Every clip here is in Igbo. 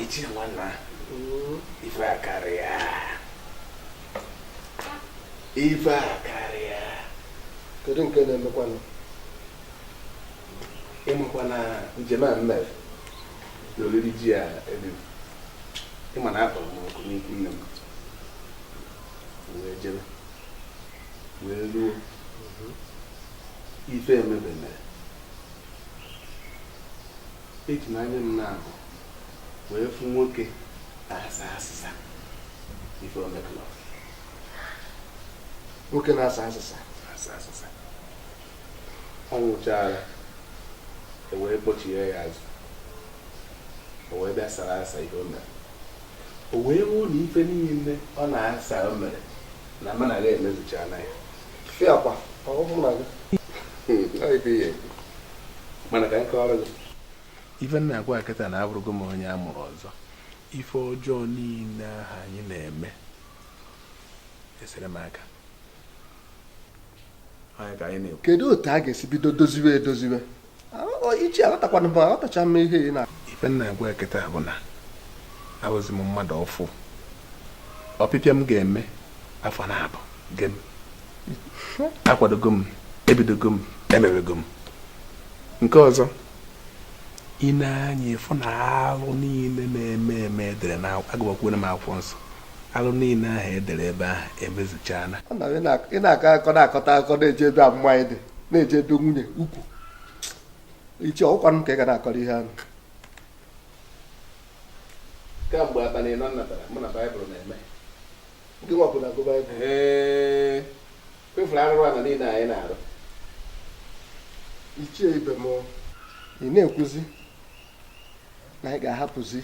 Ichie nwanna ife akarịa ife akarịa kedu nke na-emekwanụ ịmakwa na njem m mere na oriri ji a eriri ịma na a kpọrọ m oku n'ikwu nne m wee jebe wee ruo ife emebe eme eji m anya m naabọ wee fụ nwoke na-asa asịsa ife o mekọlọ nwoke na-asa asịsa asa asịsa ọ nwụchara e wee kpọchie ya azụ o wee bịa sara asa ihe o mere o wee hụ na ife niile ọ na-asa o mere na mụ na gị emezuchana ya ife m na-agwa gị kịta na abụrụgo m onye a mụrụ ọzọ ife ọjọọ niile ahụ anyị na-eme esere m aka onye ka anyị na-ekwu kedu otu a ga-esi bido doziwe edoziwe ichie aghọtakwana m aghọtacha m ihe ị na ife m na-agwa gị kịta bụ na abụzi m mmadụ ọfụụ ọpịpịa m ga-eme afọ naabọ gem akwadogo m ebidogo m emewego m nke ọzọ ị na-anya ịfụ na alụ niile na-eme eme edere na agụbakwuo m akwụkwọ nsọ alụ niile ahụ edere ebe ahụ emezuchaala ị na-akọ akọ na-akọta akọ na-eje ebe ụmụ nwaanyị dị na-eje ebe nwunye ukwu ichie ọkwanụ m ka ị ga na-akọrọ ihe ahụ kamgbe abalị anọ m natara mụ na baịbụl na-eme ndị nwa ọbụla gụ baịbụl ee kwefuru arụrụ ala niile anyị na-arụ ichie ibe m ị na-ekwuzi na anyị ga-ahapụzi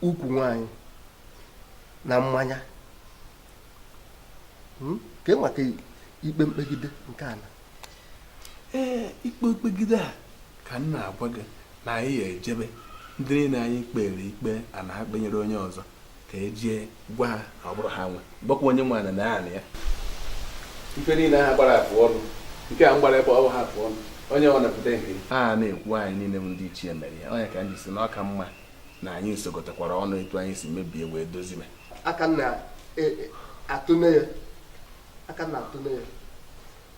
ukwu nwaanyị na mmanya hmm? kee maka ikpe mkpegide nke a na ee ikpe mkpegide a ka m na-agwa gị na anyị ya ejebe ndị niile anyị kpere ikpe ana ha kpenyere onye ọzọ ka e jee gwa ha na ọ bụrọ ha nwe gwakwa onye nwe ana na ya na ya ife niile ha gbara afụ ọnụ nke a m gbara ebe ọ bụ ha afụ ọnụ onye ọ na-apụta nke a na-ekwu anyị niile bụ ndị ichie mere ya ọ ya ka m ji sị na ọ ka mma na anyị sokọtakwara ọnụ etu anyị si mebie wee dozibe aka na atụne ya aka na atụne ya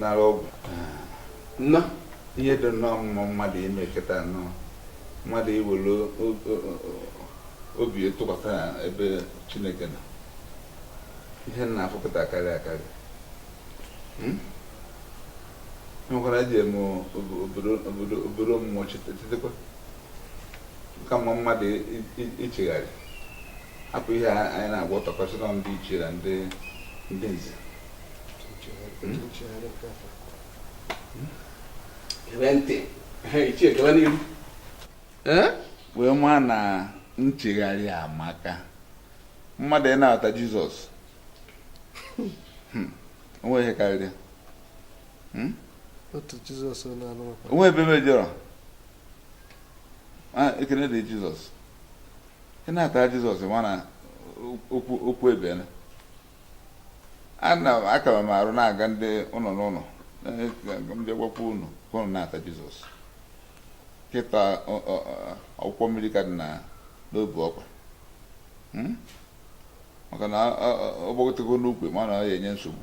nara ọgwụ nnọọ ihe dị nnọọ mma mmadụ ime kịta nnọọ mmadụ iwere obi tụkwasị na ebe chineke nọ ihe m na-afụ kịta akarịa akarị hmm? nwekwara eji eme obodo mmụọ chetakwa na ọ ka mma mmadụ ichegharị hapụ ihe anyị na-agwọtọkọsị na ndị ichie na ndị ndị nze gebe ntị ichie gaba n'ihu wee ma na nchegharị amaka mmadụ ịnabata jizọs hmm. o nweghị ihe karịrị hmm? o nwe ebe m mejọrọ ah, ekene dịrị jizọs ị nabata jizọs ma na okwu okwu ebiela ana m aka m arụ na-aga ndị ụlọ n'ụlọ ndị gwakwa unu ka unu nabata jizọs kịta ọ- ọ- ọ- kwọkwa mmiri ka dị na n'obu ọkpa Hmm? maka na ọ- ọ- ọ gbagote gị n'ukwu ị ma na ọ ya-enye nsogbu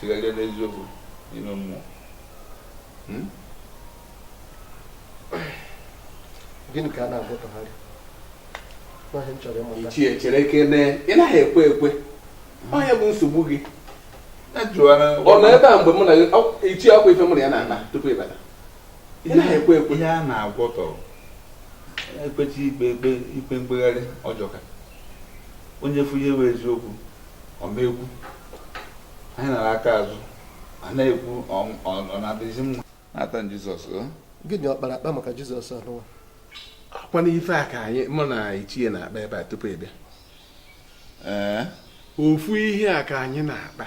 chegharịa n'eziokwu n'ime mmụọ hmm? gịnị ka a na-agwọtọgharị ichie cherekene ị naghị ekwe ekwe onye bụ nsogbu gị ọ nọ ebe a mgbe mụ na ichie ọkwa ife mụ na ya na-akpa tupu ị bata ị naghị ekwe ekwe ihe a na-agwọtọ e kpechie ikpe ikpe ikpe mkpegharị ajọka onye fụ ihe bụ eziokwu ọ ma ekwu anyị nara aka azụ a na-ekwu ọ- ọ ọ na-adịzi mma nabata jizọs o gịnị ọ kpara akpa maka jizọs anụnwa ọkwa na ife a ka anyị mụ na ichie na-akpa ebe a tupu ị bịa ee ofu ihe a ka anyị na-akpa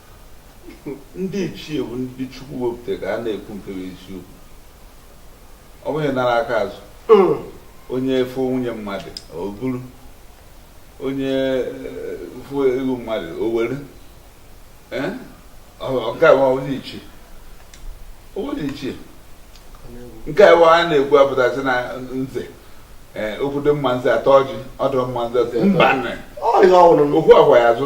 ndị ichie bụ ndị chukwu wepụtara ga na-ekwu nke bụ eziokwu ọ bụghị onye nara aka azụ hmm. onye fụ nwunye mmadụ o buru onye eh, fụ ego mmadụ o were eh? nke a onye ichie onye ichie nke a a na-ekwu apụtasị na nze eh, okwu dị mma nze ataa ọjị ọ dịrọ mma nze mba okwu agwa ya azụ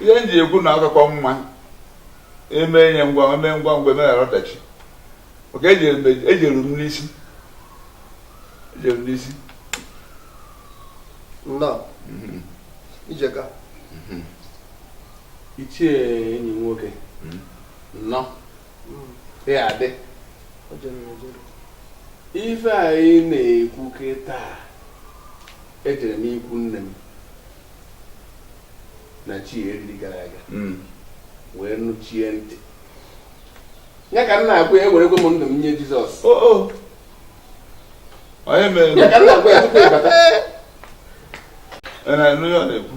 ihe m ji ekwu na ọ kakwa mma eme ihe ngwa e mee ngwa ngwa e meghara ọdachi maka ejere m ejere m n'isi ejere m n'isi nnọọ ijeka ichie enyi m nwoke nnọọ ya adị o jere ejere ife anyị na-ekwu kịta Ejere m ikwu nne m na chi eriri gara aga hmm. wee nụchie ntị ya ka m na-agwa ya ewerekwa m ndụ m nye Jizọs oh, oh. onye mere ya ka m na-agwa ya tupu ịbata na-ekwu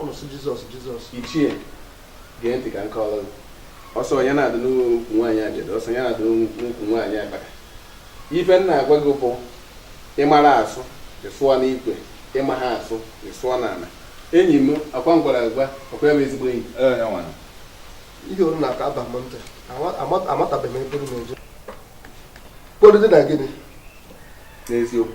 ụnụ sị jizọs jizọs ichie gee ntị ka nke ọrụ ọsọ onye na-adị n'ukwu nwaanyị ajadu ọsọ onye na-adị n'ukwu nwaanyị akpaka ife m na-agwa gị bụ ị mara asụ ị sụọ n'ikwe ị maha asụ ị sụọ n'ala enyi m ọkwa m gwara agwa ọkwa ya bụ ezigbo enyi ihe unu na-aka aba m ntị amatabeghị m ebe m na-eje kpọdụdị na gịnị n'eziokwu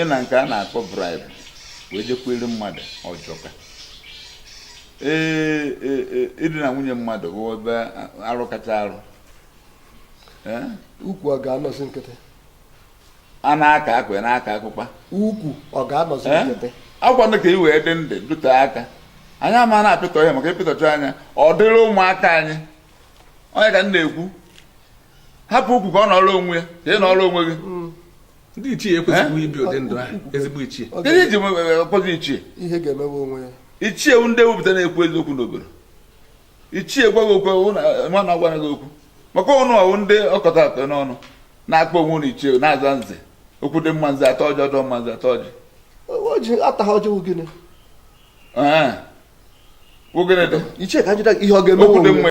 ịna nke a na-akpọ bribe wee jekwuelu mmadụ ọ jọka ee idina nwunye mmadụ bụ ebe arụ kacha arụ ukwu ọ ga-anọzi nkịtị a na-aka akụ na-aka akụkpa ukwu ọ ga-anọzi nkịtị ọkwanụ ka ị wee dị ndụ dute aka anyị ama na-apịtọ ihe maka ịpịtọcha anya ọ dịrị ụmụaka anyị onye ka m na-ekwu hapụ ukwu ka ọ nọrọ onwe ya ka ị nọrọ onwe gị mm. ndị ichie ekwesịghị ibi ụdị ndụ ahụ ezigbo ichie ihe iji ekweghị ichie ihe ga-emewe onwe ya ichie ndị e wepụta na-ekwu eziokwu n'obodo ichie ka m gwa gị okwu nwa na agwara gị okwu maka ụnụ ọ wụ ndị ọkọta atọ n'ọnụ na-akpọ onwe ụnụ ichie na-aza nze okwu dị mma nze atọ ọjị ọdọ mma nze atọ ọjị ọjị ataghị ọjị wụ gịnị wụ gịnị dị ichie ka njide ihe ọ ga-eme okwu dị mma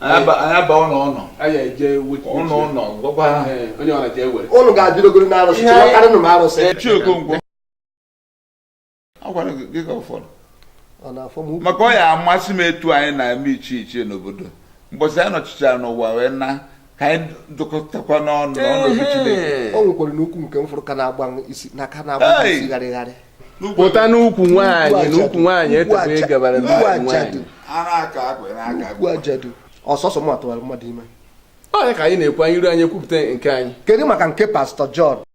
aba ụlọ ụlọ ụlọ ụlọ gwakwa ha unu ga-adịrogoro na arụsị chọwakarịnụ m arụsị ichie Okonkwo a gwara gị ka ụfọdụ maka ọ ya amasị m etu anyị na-eme ichie ichie n'obodo mbọsị anyị nọchichara n'ụwa wee na ka anyị dụkọtakwa n'ọnụ n'ọnọdụ Chineke o nwekwaranụ ukwu nke m fụrụ ka na-agba m isi na ka na-agba m Hey! isi gharịgharị pụta n'ukwu nwaanyị n'ukwu nwaanyị etepe ị gabara na Ukwu nwaanyị ajadu ara aka akwa na aka ukwu akwa ajadu ọ sọsọ m atụwara mmadụ ime onye ka anyị na-ekwu anyị iru anyị ekwupụta nke anyị kedu maka nke pastọ John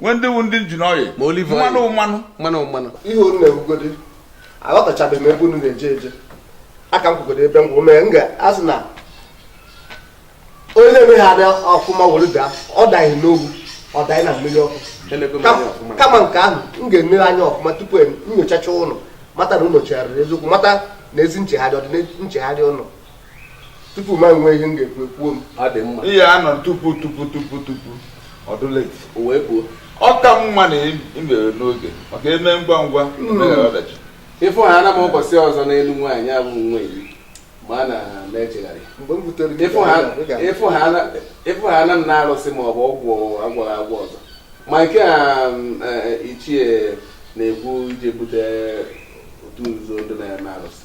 nwee ndị wu ndị engine oil Ma olive oil. mmanụ mmanụ mmanụ mmanụ ihe unu na-ekwugodi aghọtachabeghị m ebe unu na-eje eje ka m kwụgodo ebe m kwụ mee m ga-asị na onye na-emeghị adị ọfụma were daa ọ daghị n'ogwu ọ daghị na mmiri ọkụ Elego m Kam- anya ọfụma. kama nke ahụ m ga-ene anya ọfụma tupu m nyochacha unu mata na unu chegharịrị eziokwu mata na ezi nchegharị ọ dị na nchegharị unu tupu ma nwee ihe m ga-ekwu ekwuo m ọ dị mma ihe a nọ tupu tupu ọ dụ late o wee kwuo ọ ka mma na i mere n'oge maka e mee ngwa ngwa emeghara ọdachi ịfụ ha ana m ụbọchị ọzọ n'elu nwaanyị abụ nwa iri ma a na m echegharị ịfụ ha ana m na-arụsị ma ọ bụ ọgwụ agwọghị agwọ ọzọ ma nke a ichie na-ekwu ije bute otu nzuzo ndị na-eme arụsị